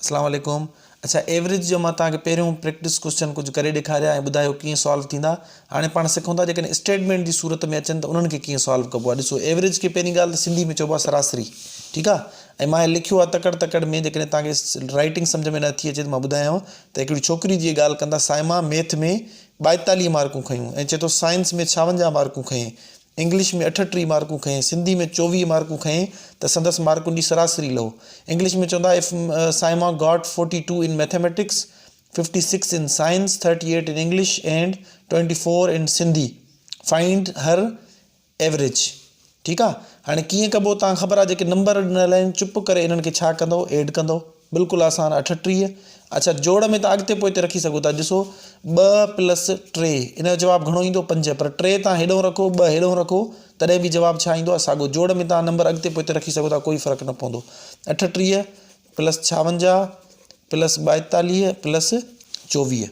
اسلام عليڪم اڇا ايوريج جو مان توهان کي پهريون پريڪٽس ڪوسچن ڪجهه ڪري ڏيکاريا ۽ ٻڌايو ڪيئن سالو ٿيندا هاڻي پاڻ سکون ٿا جيڪڏهن اسٽيٽمينٽ جي صورت ۾ اچن ته انهن کي ڪيئن سالو ڪبو آهي ڏسو ايوريج کي پهرين ڳالهه ته سنڌي ۾ چئبو آهي سراسري ٺيڪ آهي ۽ مان هي لکيو آهي تڪڙ تڪڙ ۾ جيڪڏهن توهان کي رائٽنگ سمجهه ۾ نه ٿي اچي ته مان ٻڌايانو ته هڪڙي ڇوڪري جي ڳالهه ڪندا سائما ميٿ ۾ ٻائيتاليهه مارڪون کنيون ۽ چئي ٿو سائنس ۾ ڇاونجاهه مارڪون کنئين انگلش ۾ اٺٽيهه مارڪون کنئي، سنڌي ۾ چوويهه مارڪون کنئي ته سندس مارڪن جي سراسري لهو. انگلش ۾ چوندا of Saima got forty two in mathematics, fifty six in science, thirty eight in English and twenty four in Sindhi, find her average. ٺيڪ آ. هاڻي ڪيئن ڪبو تان کبر آ جيڪي نمبر ڏنل آهن چپ ڪري انهن کي ڇا ڪندو ايڊ ڪندو. بلڪل آسان اٺٽيهه اچا جوڙ ۾ تان اڳتي پوئتي رکي سگهو ٿا ڏسو ٻه پلس ٽي ان جو جواب گهڻو ايندو پنج پر ٽي تان هيڏهون رکو ٻه هيڏهون رکو تڏهن به جواب ڇا ايندو آهي ساڳو جوڙ ۾ تان نمبر اڳتي پوئتي رکي سگهو ٿا ڪوئي فرق نه پوندو اٺٽيهه پلس ڇاونجاهه پلس ٻائتاليهه پلس چوويهه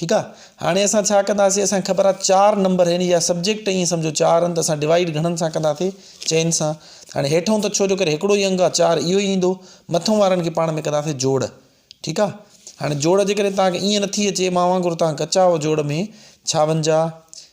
ٺيڪ آ هاڻي اسان ڇا ڪنداسي اسان کي خبر آ چار نمبر يعني يا سبجيڪٽ ائين سمجهو چار آهن ته اسان ڊوائيڊ گهڻن سان ڪنداسي چئن سان هاڻي هيٺون ته ڇو جو ڪري هڪڙو ئي انگ آ چار اهو ئي ايندو مٿون وارن کي پاڻ ۾ ڪنداسي جوڙ ٺيڪ آ هاڻي جوڙ جيڪڏهن توهان کي ائين نٿي اچي مان وانگر توهان ڪچا آهو جوڙ ۾ ڇاونجاهه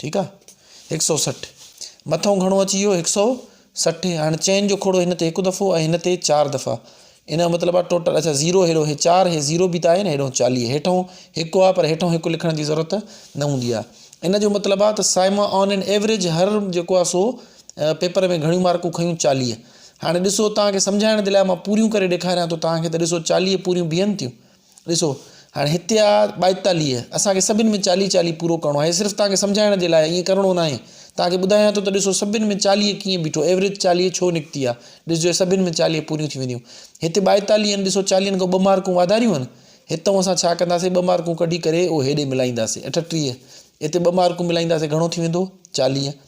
ٺيڪ آ هڪ سؤ سٺ مٿئون گهڻو اچي ويو هڪ سؤ سٺ هاڻي چئن جو کوڙو هن تي هڪ دفعو ۽ هن تي چار دفعا ان جو مطلب آ ٽوٽل اچا زيرو هيڏو هي چار هي زيرو به ته آهي نه هيڏو چاليهه هيٺئون هڪ آ پر هيٺئون هڪ لکڻ جي ضرورت نه هوندي آ ان جو مطلب آ ته سائما آن اين ايوريج هر جيڪو آ سو پيپر ۾ گهڻيون مارڪون کنيون چاليهه هاڻي ڏسو توهان کي سمجهائڻ جي لاء مان پوريون ڪري ڏيکاريان ٿو توهان کي ته ڏسو چاليهه پوريون بيهن ٿيون ڏسو هاڻي هتي آ ٻائيتاليهه اسان کي سڀني ۾ چاليهه چاليهه پورو ڪرڻو آهي صرف توهان کي سمجهائڻ جي لاء ائين ڪرڻو نه آهي توهان کي ٻڌايان ٿو ته ڏسو سڀني ۾ چاليهه ڪيئن بيٺو ايوریج چاليهه ڇو نڪتي آ ڏسجو سڀني ۾ چاليهه پوريون ٿي وينديون هتي ٻائيتاليهه آهن ڏسو چاليهن کان ٻه مارڪون واڌاريون آهن هتو اسان ڇا ڪنداسي ٻه مارڪون ڪڍي ڪري اهو هيڏي ملائينداسي اٺٽيهه هتي ٻه مارڪون ملائينداسي گهڻو ٿي ويندو چاليهه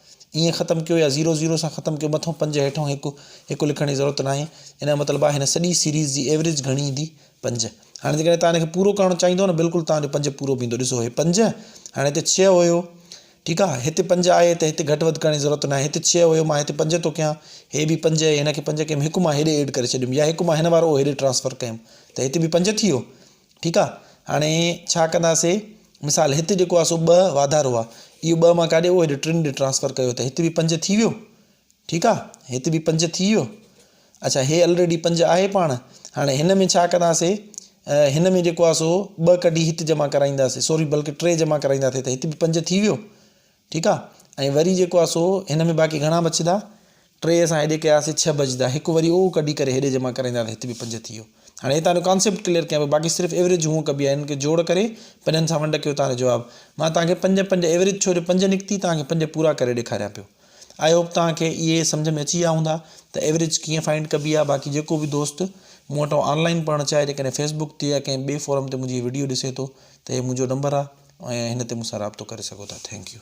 ائين ختم ڪيو يا زيرو زيرو سان ختم ڪيو مٿئون پنج هيٺئون هڪ هڪ لکڻ جي ضرورت ناهي ان جو مطلب آهي هن سڄي سيريز جي ايوريج گهڻي ايندي پنج هاڻي جيڪڏهن تان هن کي پورو ڪرڻ چاهيندو نه بلڪل تان جو پنج پورو به ايندو ڏسو هي پنج هاڻي هتي ڇهه هيو ٺيڪ آهي هتي پنج آهي ته هتي گهٽ وڌ ڪرڻ جي ضرورت ناهي هتي ڇهه هيو مان هتي پنج ٿو ڪيان هي به پنج هي هن کي پنج ڪيم هڪ مان هيڏي ايڊ ڪري ڇڏيم يا هڪ مان هن وارو هيڏي ٽرانسفر ڪيم ته هتي به پنج ٿي ويو ٺيڪ آ هاڻي ڇا ڪنداسي مثال هت جيڪو آ سو ٻه واڌارو آ اهو ٻه مان ڪاڏي ويو هيڏي ٽن ڏي ٽرانسفر ڪيو ته هت به پنج ٿي ويو ٺيڪ آ هت به پنج ٿي ويو اچھا هي آلريڊي پنج آهي پاڻ هاڻي هن ۾ ڇا ڪنداسي هن ۾ جيڪو آ سو ٻه ڪڍي هت جمع ڪرائينداسي سوري بلڪه ٽي جمع ڪرائينداسي ته هت به پنج ٿي ويو ٺيڪ آ ۽ وري جيڪو آ سو هن ۾ باقي گهڻا بچدا ٽي اسان هيڏي ڪياسي ڇهه بچدا هڪ وري اهو ڪڍي ڪري هيڏي جمع ڪرائيندا ته هت به پنج ٿي ويو هاڻي هتان جو ڪانسيپٽ ڪليئر ڪيان پيو باقي صرف ايوريج هونء ڪبي آ هنن کي جوڙ ڪري پنجن سان ونڊ ڪيو تان جو جواب مان تان کي پنج پنج ايوريج ڇو جو پنج نڪتي تان کي پنج پورا ڪري ڏيکاريان پيو آئي هوپ تان کي اهي سمجهه ۾ اچي ويا هوندا ته ايوريج ڪيئن فائنڊ ڪبي آ باقي جيڪو به دوست مون وٽان آن لائين پڙهڻ چاهي جيڪڏهن فيسبوڪ تي يا ڪنهن ٻي فورم تي منهنجي هي وڊيو ڏسي ٿو ته هي منهنجو نمبر آ ۽ هن تي مون سان رابطو ڪري سگهو ٿا ٿينڪ يو.